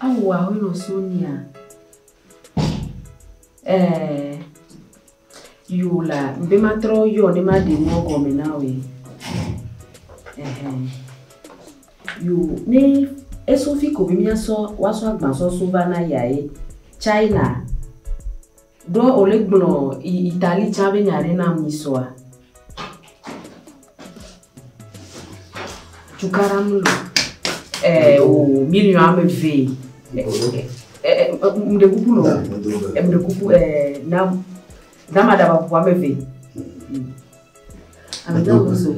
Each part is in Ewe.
Awu a wolo so nia eh, yo la be ma trɔ yɔ ne ma ɖe mɔ gɔme na wòe eh, yo ne esofi ko be miasɔ woasɔ agbasɔso va na yae China. Ɖo wòle gblɔ Italie tsã be nya ɖe nam nyisɔa? Cukaɖa mlɔ ɛɛ o miliɔn ame ve. Mɖe kuku nɔ mɖe kuku ɛɛ na dama ɖaba kuku ame ve. Ame dama sɔ.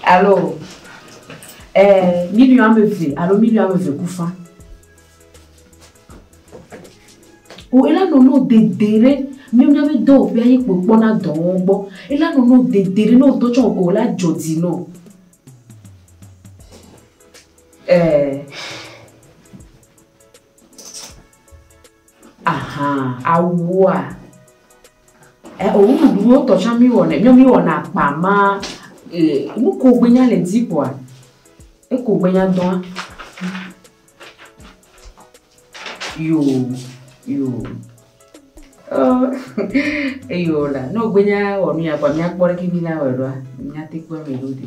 Alo, eh, miliyo ame eve alo miliyo ame eve kufa. O ela nono dede ɖe míamia be dɔwɔƒea ye kpokpɔ na dɔwɔwɔ gbɔ. Ela nono dede ɖe no do tsɔ o la dzɔ dzi no. Eh. Ahan awoa e o nu ɖu wo tɔ tsã mi wɔ nɛ mi mi wɔ na kpa ma e nu ko gbe nya le di kɔa e ko gbe nya dɔa yo yo eyo la no gbe nya wɔ nu ya kɔa mi akpɔ ɖe ki mi la wɔ ɖoa mi ate kpɔ mi ɖo di.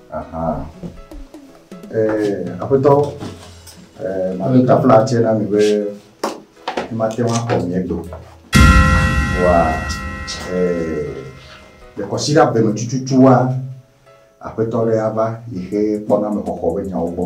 Aha. Eh, aƒetɔ, eh, mame ta fla tse na mi be mate ŋu axɔ mia gbe. Vɔa, eh, le kɔsiɖa be me tututua, aƒetɔ ɖe ava yi xe kpɔna me xɔxɔ be nyawo gbɔ.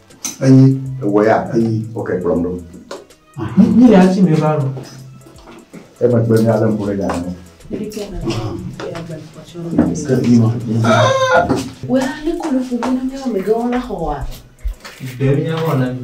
Enyi, ewɔ ya, enyi, oke kplɔm ɖo. Mi le asi mi va lɔ. Emegbe mi ale ŋku ɖe nya me. Wea ne kɔ nuƒo ƒo na míawo megãwo la xɔa? Ɖe míawo na mi.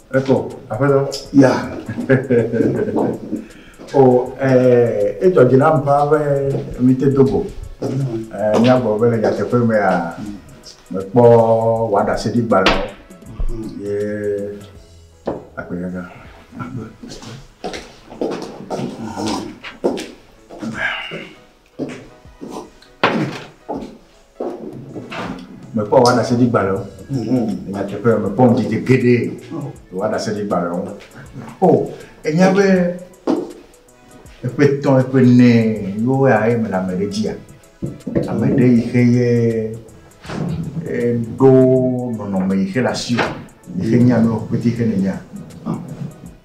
Ekɔ, aƒetɔ. Ya. O, ɛɛ, edzɔ dzi nam ƒaa be mìte do go. Ɛɛ, míagblɔ be le nyateƒe mea, mekpɔ wɔɖaseɖigbalẽwo ye agbe gaga. Agbe. mekpɔ wɔɖaseɖi gbalẽ o mhm. nyateƒe mekpɔ ŋdidi geɖe wɔɖaseɖi gbalẽ o o enya be eƒe tɔ eƒe nɛ yewo ya ye mele ame ɖe dzia ame ɖe yi xe ye ɖo nɔnɔme yi xe le asi o yi xe nya nu ƒete xe ne nya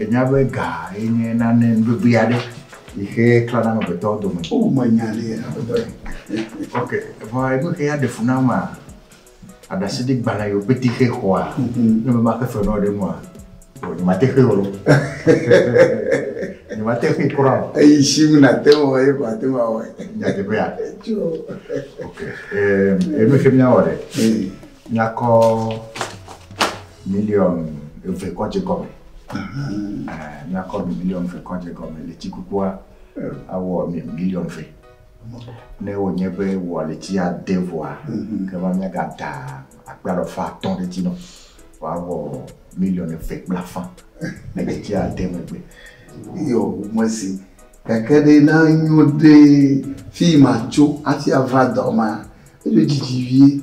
Ènya be ga ye nye nane nuvevi aɖe yi xe klãna amegbetɔwo dome. O, menya ɖi, aƒetɔe. Ok, vɔ enu xea ɖe fu nam maa? Aɖaseɖi gbalẽ yewo pete xe xɔa? Ne mebe maxe fe nɔ ɖe nua? O, nyemate xe o. Nyemate xe kura o. Eyi shim nate ŋu awɔ ye ko ate ŋu awɔe. Nyateƒea? Tso. Ok, enu xe míawɔ ɖe. Míakɔ Miliɔn eve kɔ dze gɔme. Míakɔ ami miliɔn eve kɔ dze gɔme. Letsi kukua awɔ ami miliɔn eve. Ne wònye be wòa letsi ade vɔa, mhm. ke va míagada akpe alɔfa atɔ̃ ɖe edzi nɔ. Wòawɔ miliɔn eve kple afã le letsi ade megbe. Yɔ mesi. Gake ɖe na nyo ɖe fi ma tso hafi ava dɔ ma. Eɖo dzidzi vie.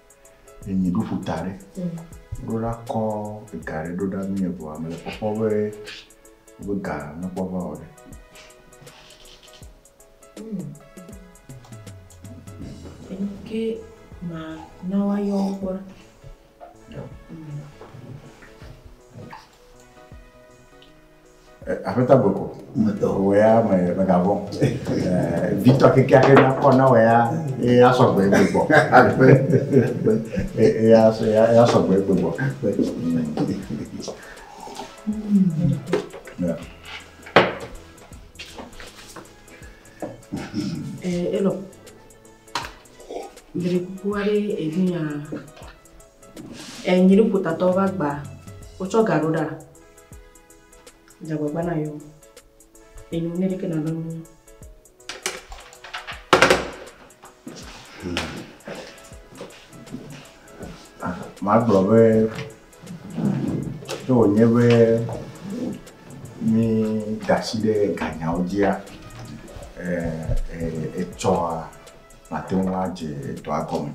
Ye mi ɖo ƒuta ɖe. Ɖo ɖa kɔ ega ɖe ɖo ɖa mi evɔa me le kpɔkpɔ be be ga me kpɔ va o ɖe. Ke ma na wa yɔ kpɔ. Yeah. Mm. Aƒetɔ Gbeko, wò ya mègavɔ̃ o. Vitɔ kekeake nakɔ na wò ya eye asɔ gbe gbegbɔ. Eye asɔ gbe gbegbɔ. Elɔ, dre kuku aɖe evi nyaa, nyi ɖo ƒotatɔ va gbaa, wotsɔ ga ɖo ɖaa? Dzagbagba na yo. Enu ne ɖeke nana mu. Magblɔ be to wònye be mi dasi ɖe ganyawo dzia etsɔa mate ŋu adze dɔa gɔme.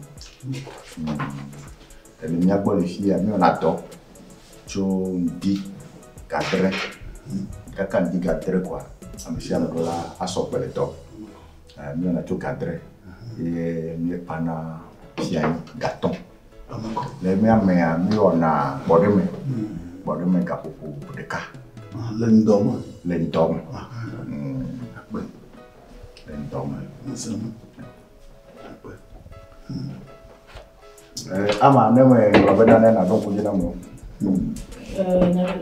Eme mía gbɔ le fia mí wɔna dɔ tso ŋdi ga dre, kaka ŋdi ga dre kɔa ame sia ame ɖo la asɔ gbe le dɔ. Mí wɔna tso ga dre ye mí kpana fia nyi ga tɔn. Le mía mea mí wɔna gbɔɖe me, gbɔɖe me ga ƒoƒo ɖeka. Le ŋdɔ me. Le ŋdɔ me. Akpe. Le ŋdɔ me. Ŋusẽ me. Akpe. Ama ne me gblɔ be nane naɖo ŋku dzi na mo.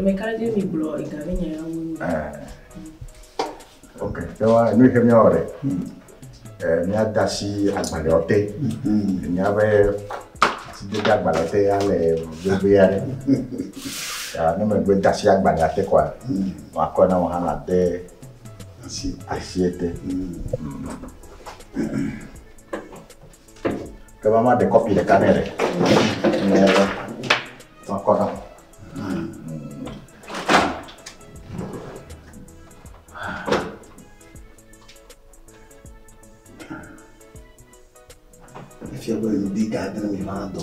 Meka dzi mi gblɔ ega mi nya ya wonu. Ok, te wa nu ke mi ore. Mi ada si agbale ote. Mi abe si de agbale ote ya le bebe ya le. Ya ne me gbe da si agbale ate kwa. Wa ko na mo hana de asi asi ete. Ke va ma ɖe kɔpi ɖeka nɛ ɖe. Ne ma kɔ na. Efia be ŋdi ga dre mi ma dɔ.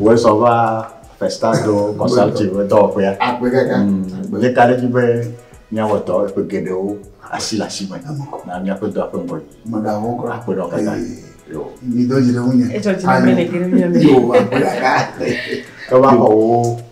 Wòe sɔ va Festado Consulting ƒe dɔwɔƒea. Agbe kaka. Míeka ɖe edzi be míawɔ dɔ ƒe geɖewo asi le asi me na míaƒe dɔa ƒe ŋgɔ dzi. Mèɖaho kɔ. Akpe ɖe wo katã. Mido dzi ɖe ŋunye. Edzɔ dzi na mí le geɖe mía me. Yoo, agbe kaka. Ke va xɔ wò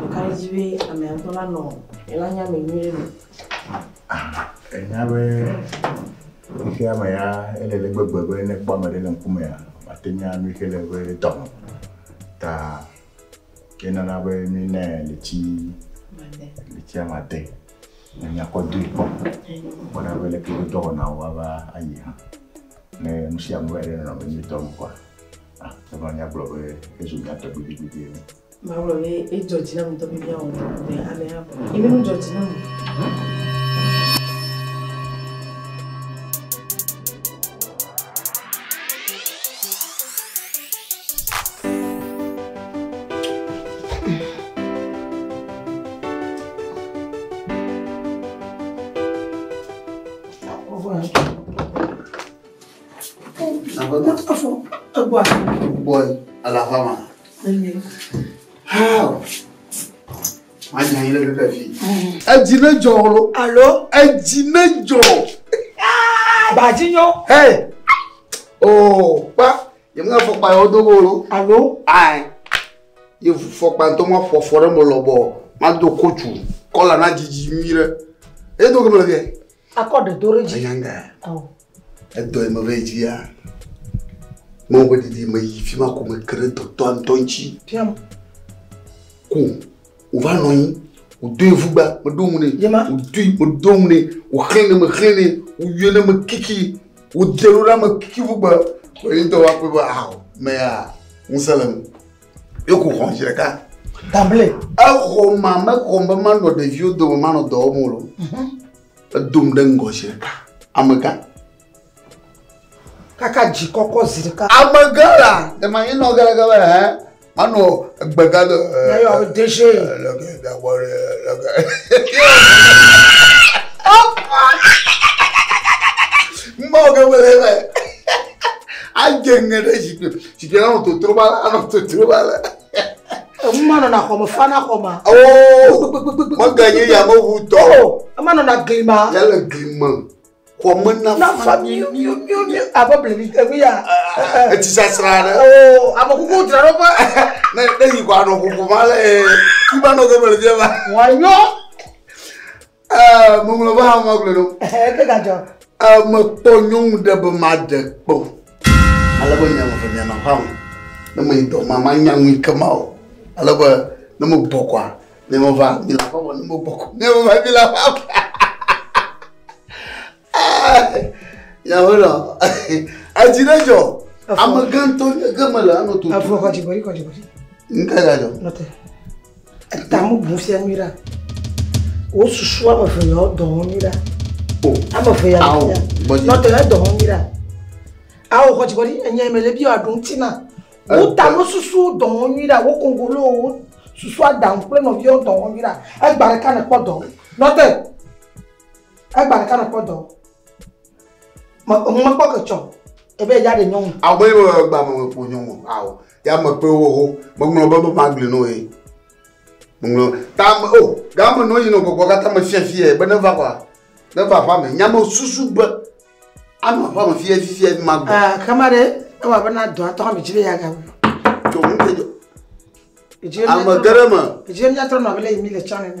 Ɖeka dzi be ame ŋutɔ la nɔ la nya me nyuie me. Enya be xexea me ya ele le gbegbe be ne kpɔ ame ɖe le ŋkumea, mate nya nu ke le be dɔme. Ta ke nana be mi ne le tsi le tsia ma te. Ne nya kɔ do ikpɔ. Kpɔna be le ke dɔwɔna wa va ayi ha. Ne nusia mu va ɖe nɔ be mi dɔme kwa. Ate ŋu anya gblɔ be ezu nya tɔgbi vivivi ene. Magblɔ be edzɔ dzi nam ŋutɔ be míawɔ nu ɖe ŋu be amea ʋu. Yi mí nu dzɔ dzi nam o. Edzi ne dzɔ lo. Alo. Edzi ne dzɔ. Badzi nyɔ. Hɛ. Oo kpa yemu na fɔkpa yɔ do wo lo. Alo. Ayi. Yevu fɔkpa ŋutɔ ma ƒo afɔ ɖe me lɔbɔ ma do kotu kɔla na dzidzi nyui ɖe. Edo gome le gɛ. Akɔ ɖe do ɖe dzi. Ayanga. Edɔ yi meve yi dzia. Mɔ be didi me yi fi ma ko me ke ɖe dɔtɔ ŋutɔ ŋuti. Piam. Ko wòva nɔ anyi wòdo ye ŋugba meɖo ŋu nɛ. Yema. Wòdui wòdo ŋu nɛ wòxlẽ ne mexlẽ nɛ wòyɔe ne mekiki wòdze ɖo ɖa mekiki ŋugba. Wòye dɔ wa ƒe be aho mea ŋusẽ le ŋu. Yoko xɔm zi ɖeka. Tamble. Exɔ ma mexɔm be manɔ ɖeviwo dome manɔ dɔ wɔm o. Mhm. Edom ɖe ŋgɔ zi ɖeka. Amegã. Kaka dzi kɔkɔ zi ɖeka. Amegã la ne ma yinɔ ge ɖeke be hɛ manɔ gbega do. Yayɔ be deje. Lɔke dawɔ lɔke. Ɔkɔ. Mɔ ge wele be. Adze ŋe ɖe zikpui. si ke anɔ totro ma la anɔ totro ma la. emu ma nɔna xɔme fa na xɔma. oo mega nye yameʋu tɔ. ema nɔna gli ma. ya le gli me. xɔme na fa miu abe blebi enu ya. etsi sasra aɖe. oo ame kuku dzraɖoƒe. ne ne yi kɔ anɔ ƒoƒo ma le. fi ma nɔ gɔme le fi ma. wòanyɔ. Eh, meŋlɔ va hã magblɔe nɔ. Eh, ke gadzɔ. Eh, mekpɔ nyɔnu ɖe be maɖe kpɔ. Ale be miame ve mianɔ aƒea me. Ne meyi dɔ ma, manya nu yi ke ma o. Ale be ne megbɔ kɔa, miame va mile aƒea me. Ne megbɔ kɔ, miame va mile aƒea me. Nyamela, edzi ɖe dzɔ. Ame gã ŋutɔ nye ke mele anɔ tutu. Efɔ kɔdzi kɔdzi kɔdzi kɔdzi. Ŋka ga dzɔ? Nɔte. Etamu bu fia nyui ɖa. Wo susu ame eve ya dɔ ho nyui ɖa. O. Ame eve ya. Awo. Bɔdzi. Nɔte ya dɔ ho nyui ɖa. Awo kɔdzi kɔdzi enye mele bi wa ɖo ŋuti na. Wo ta wo susu dɔ ho nyui ɖa. Wo kongolo wo susu aɖaŋu kple nɔviwo dɔ ho nyui ɖa. Egba ɖeka ne kpɔ dɔ. Nɔte. Egba ɖeka ɖe kpɔ dɔ. Me ŋu me kpɔ ke tsɔ. Ebe ya ɖe nyɔnu. Awo be yo egba me me ƒo nyɔnu. Awo. Ya me pe wo ho. Me ŋlɔ be be ma gli no ye. Me ŋlɔ. Ta me o. Ga me no yi no gbɔgbɔ kata me fia fia be ne va kwa. Ne va va me. Nya me susu be. Ano va me fia fia be ma gli. Ah, kama ɖe. Ewa be na dɔ atɔ me jibe ya ga. Tso mu ke jo. Ame gere me. Jibe mi atɔ na be le yi mi le channel.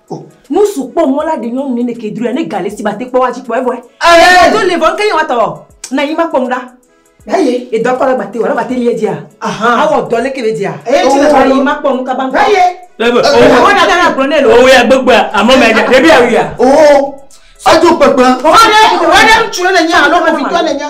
o. Nusu kpɔ mɔ la ɖe nyɔnu nɛnɛ ke droea ne ga le si mate kpɔ woadzi kpɔ evɔe. Amen. Do le vɔ ŋke ye wa tɔ na yi ma kpɔ nu ɖa. Eye. Ye dɔ kɔ la gbate wɔ la gbate lie dzia. Aha. Awɔ dɔ le ke be dzia. Eye tsi le vɔ yi ma kpɔ nu kaba ŋkɔ. Eye. Eye be. Eye wa na tana gblɔ ne lo. Owe ya gbegbe a amɔ me ya ɖe bi a wia. O. Ado kpekpe. Wa ne wa ne ŋtsu ne ne nye alo ƒovi tɔ ne nye.